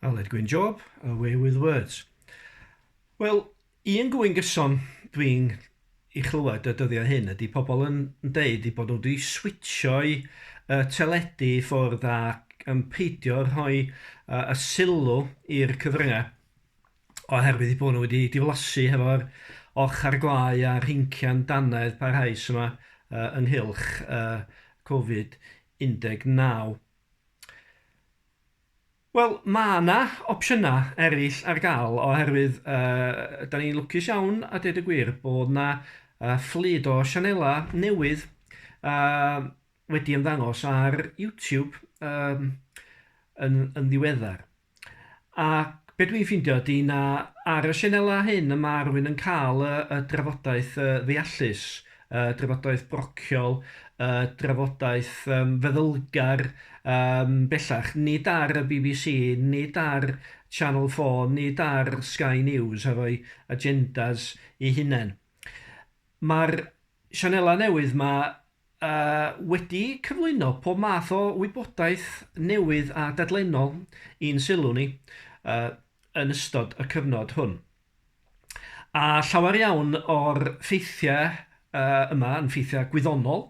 Aled Gwyn Job, Away with Words. Wel, un gwyn gyson dwi'n i chlywed y dyddiau hyn ydy pobl yn deud i bod nhw wedi switsio'i uh, teledu ffwrdd ac yn peidio rhoi uh, y sylw i'r cyfryngau oherwydd i bod nhw wedi diflasu hefo'r ochr glai a rhincian danedd parhaus yma uh, ynghylch uh, Covid 19. Wel, mae yna opsiynau eraill ar gael oherwydd uh, da ni'n lwcus iawn a dweud y gwir bod yna uh, fflyd o sianelau newydd uh, wedi ymddangos ar YouTube um, yn, yn ddiweddar. A be dwi'n ffeindio ydy na ar y sianelau hyn y ma' rhywun yn cael y y drafodaeth yy ddeallus, y drafodaeth brociol, y drafodaeth yym feddylgar yym bellach, nid ar y bbc, nid ar Channel 4, nid ar Sky News a rhoi agendas eu hunain. Ma'r Sianelau newydd ma wedi cyflwyno pob math o wybodaeth newydd a dadlennol i'n sylw ni yn ystod y cyfnod hwn. A llawer iawn o'r ffeithiau yma yn ffeithiau gwyddonol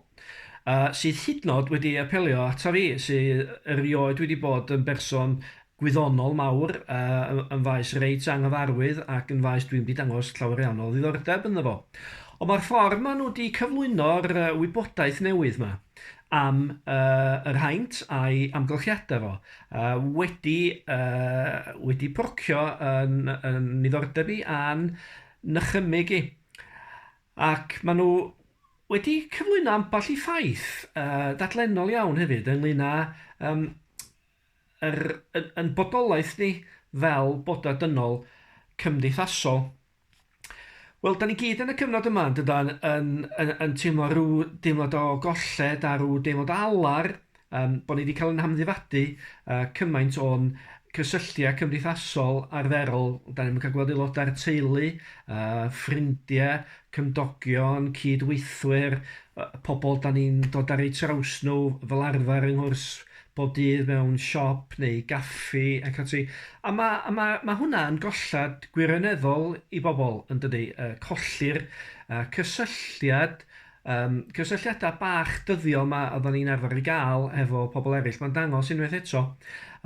sydd hyd yn oed wedi apelio ata fi sydd erioed wedi bod yn berson gwyddonol mawr yn faes reit anghyfarwydd ac yn faes dwi'm 'di dangos llawer iawn o ddiddordeb ynddo fo. Ond mae'r ffordd maen nhw 'di cyflwyno'r wybodaeth newydd 'ma am yr haint a'i amgylchiadau fo wedi wedi procio yn yn niddordeb i a'n nychymyg i. Ac maen nhw wedi cyflwyno ambell i ffaith yy dadlennol iawn hefyd ynglŷn â yym Yr yn bodolaeth ni fel boda dynol cymdeithasol. Wel, da ni gyd yn y cyfnod yma, yn dydan, yn, yn, yn teimlo rhyw deimlad o golled a rhyw deimlad o alar, um, bod ni wedi cael yn hamddifadu uh, cymaint o'n cysylltiau cymdeithasol arferol, da ni'n cael gweld aelodau'r teulu, uh, ffrindiau, cymdogion, cydweithwyr, uh, pobl da ni'n dod ar eu traws nhw fel arfer yng nghwrs bob dydd mewn siop neu gaffi ac ati. A ma' a ma' ma' hwnna yn gollad gwirioneddol i bobl, yn dydi? Yy colli'r yy cysylltiad, yym cysylltiadau bach dyddiol 'ma oeddan ni'n arfer ei gael hefo pobl eraill. Mae'n dangos unwaith eto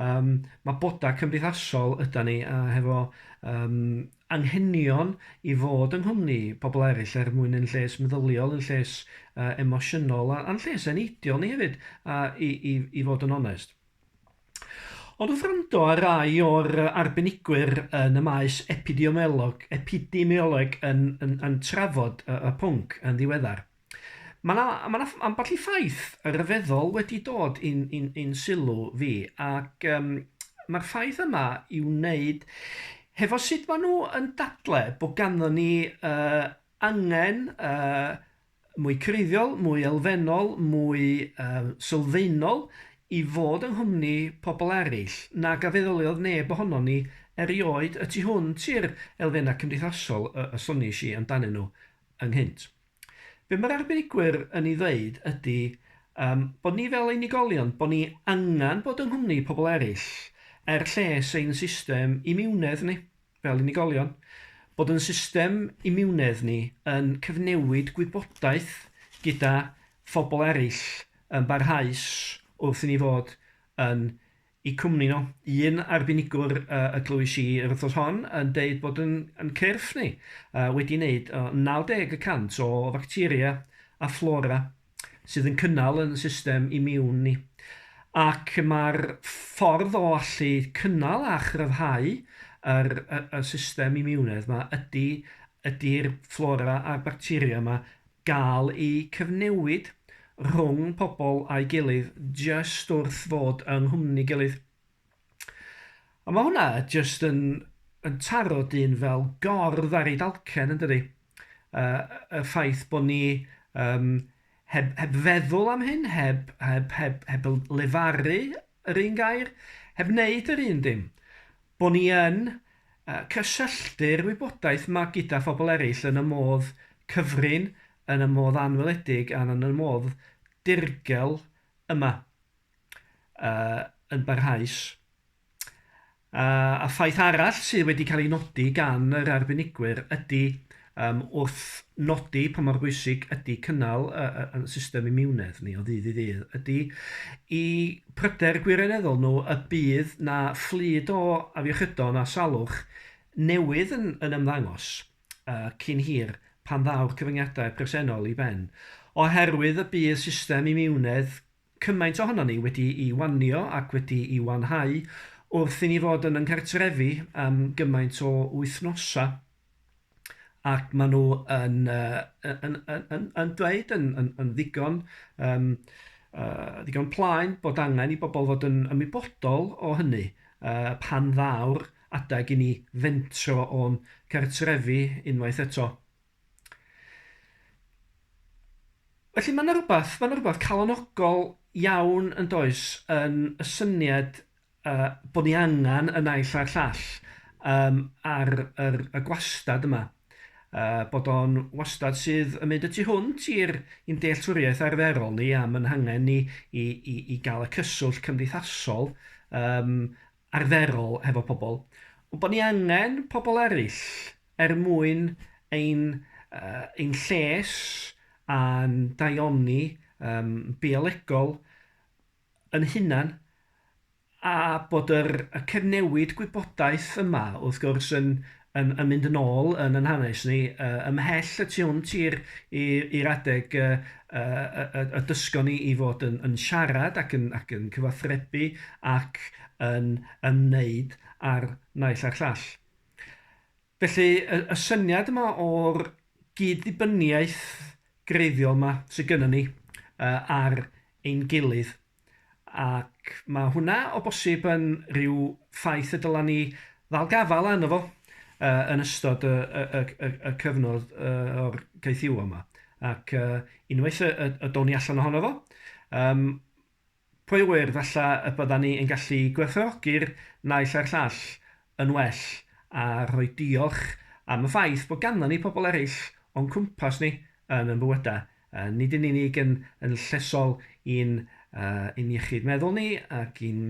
yym ma' bodau cymdeithasol ydan ni a hefo yym anghenion i fod yng nghwmni pobl eraill er mwyn ein lles meddyliol, ein lles emosiynol a'n lles eneidiol ni hefyd i fod yn onest. Ond wrth wrando ar rai o'r arbenigwyr yn y maes epidemiolog yn trafod y pwnc yn ddiweddar, Mae yna ma na ambell i ffaith ryfeddol wedi dod i'n in, in sylw fi, ac um, mae'r ffaith yma i wneud hefo sut maen nhw yn dadle bod ganddo ni uh, angen uh, mwy creiddiol, mwy elfennol, mwy uh, sylfaenol i fod yng nghwmni pobl eraill nag a feddyliodd neb ohono ni erioed y tu hwnt i'r elfennau cymdeithasol y, y soniais i amdanyn nhw ynghynt. Be mae'r arbenigwyr yn ei ddweud ydy um, bod ni fel unigolion, bod ni angen bod yng nghwmni pobl eraill, er lles ein system imiwnedd ni, fel unigolion, bod yn system imiwnedd ni yn cyfnewid gwybodaeth gyda phobl eraill yn barhaus wrth i ni fod yn Y cwmni nhw. Un arbenigwr y glywais i yr wythnos hon yn deud bod yn cyrff ni wedi neud 90 y cant o facteria a fflora sydd yn cynnal yn system imiwn ni, ac mae'r ffordd o allu cynnal a chryfhau yr system imiwnedd 'ma ydy ydy'r fflora a'r bacteria 'ma Gall y cyfnewid rhwng pobl a'i gilydd jyst wrth fod yng nghwmni gilydd. A mae hwnna jyst yn yn taro dyn fel gordd ar ei dalcen yn dydi? Yy y ffaith bod ni yym heb heb feddwl am hyn, heb heb heb heb lefaru yr un gair, heb wneud yr un dim. Bo ni yn cysylltu'r wybodaeth ma gyda phobl eraill yn y modd cyfrin, yn y modd anweledig a yn y modd dirgel yma yn barhaus. A ffaith arall sydd wedi cael ei nodi gan yr arbenigwyr ydy Yym, wrth nodi pa mor bwysig ydy cynnal y y y system imiwnedd ni o ddydd i ddydd, ydy 'u pryder gwirioneddol nhw y bydd 'na fflyd o afiechydon a salwch newydd yn yn ymddangos yy cyn hir pan ddaw'r cyfyngiadau presennol i ben, oherwydd y bydd system imiwnedd cymaint ohonon ni wedi'i wanio ac wedi'i wanhau wrth i ni fod yn 'y nghartrefi am gymaint o wythnosau, ac maen nhw yn yy yn yn yn yn dweud yn yn yn ddigon yym yy ddigon plaen bod angen i bobl fod yn ymwybodol o hynny yy pan ddaw'r adeg i ni fentro o'n cartrefi unwaith eto. Felly mae 'na rywbeth, mae 'na rywbeth calonogol iawn yn does yn y syniad uh, bod ni angen y naill a'r llall um, ar yr, y gwastad yma. Uh, bod o'n wastad sydd yn mynd y tu hwnt i'r i'n dealltwriaeth arferol ni am yn hangen ni i, i, i gael y cyswllt cymdeithasol um, arferol hefo pobl, ond bod ni angen pobl eraill er mwyn ein, uh, ein lles a'n daioni um, biolegol yn hunan a bod yr, y cyfnewid gwybodaeth yma wrth gwrs yn, Yn yn mynd yn ôl yn yn hanes ni, yy ymhell y tu hwnt i'r i i'r adeg yy yy y y y dysgon ni i fod yn yn siarad ac yn ac yn cyfathrebu ac yn ymwneud â'r naill a'r llall. Felly y y syniad yma o'r gyd-ddibyniaeth greiddiol 'ma sy gynnon ni yy ar ein gilydd, Ac mae hwnna o bosib yn rhyw ffaith y dylen ni ddal gafael arno fo yn ystod y, y, y, y, y cyfnod o'r gaethiwa yma. Ac unwaith y, y, y down ni allan ohono fo, um, pwy wyr falle y bydda ni yn gallu gwerthfawrogi'r naill a'r llall yn well a rhoi diolch am y ffaith bod ganddo ni pobl eraill o'n cwmpas ni yn yn bywydau Nid yn unig yn yn llesol i'n i'n iechyd meddwl ni ac i'n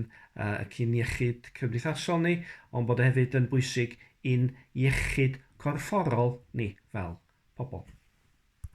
ac i'n iechyd cymdeithasol ni, ond bod o hefyd yn bwysig i'n iechyd corfforol ni fel pobl.